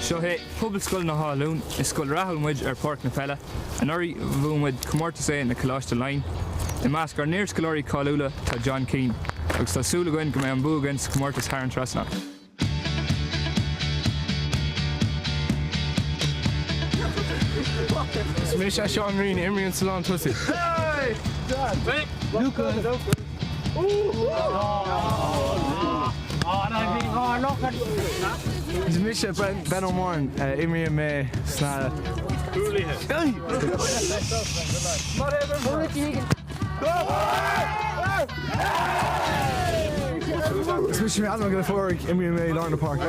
Seo é Pobalscoil na hÁth-Luain. Is scoil rathúil muid ar Pháirc na Peile. Anuraidh bhuaigh muid Comórtas A na Coláiste Laighean. I measc ár n-iarscoláirí cáiliúla tá John Keane agus tá súil againn go mbeidh an bua againn sa chomórtas thar an trasnán. Is mise Seán Rí, imríonn sa lán tosaí. Luke Gunn. Is mise Ben Ó Móráin, imríonn mé sna cúlaithe. Is mise Adam Ó Gallachóir, imríonn mé i lár na páirce.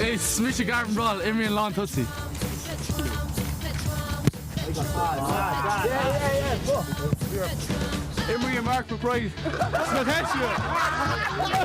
Is mise Garvin Brall, imríonn lán tosaí. Imríonn Mark McBride sna heisiamh.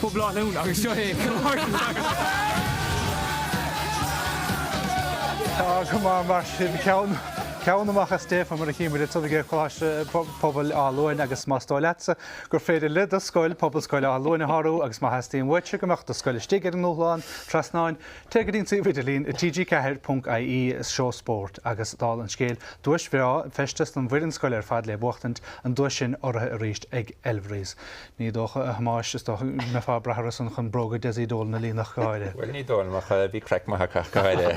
Pobail Áth Luain agus seo é Kilmartin agus. Tá go maith mar sin ceann amach as déag fé mar a chímid le Tubaiste ag Coláiste Pobail Áth Luain agus más dóigh leatsa gur féidir le do scoil, Pobalscoil Áth Luain a shárú agus má theastaíonn uaitse go mbeadh do scoil istigh ar an ndúshlán trasnáin, téigh go dtí an suíomh idirlín tg4.ie is seó spóirt agus tá an scéal duais bhreá feisteas don bhfoireann scoile ar fad le buachtaint an duais sin urraithe arís ag Elverys. Ní dócha, a Thomáis, is dócha go mbeifeá ag brath orthusan chun bróga Dessie Dolan a líonadh, go háirithe. Bhuel, ní dóigh liom, ach bhí craic mhaith acu, ach go háirithe.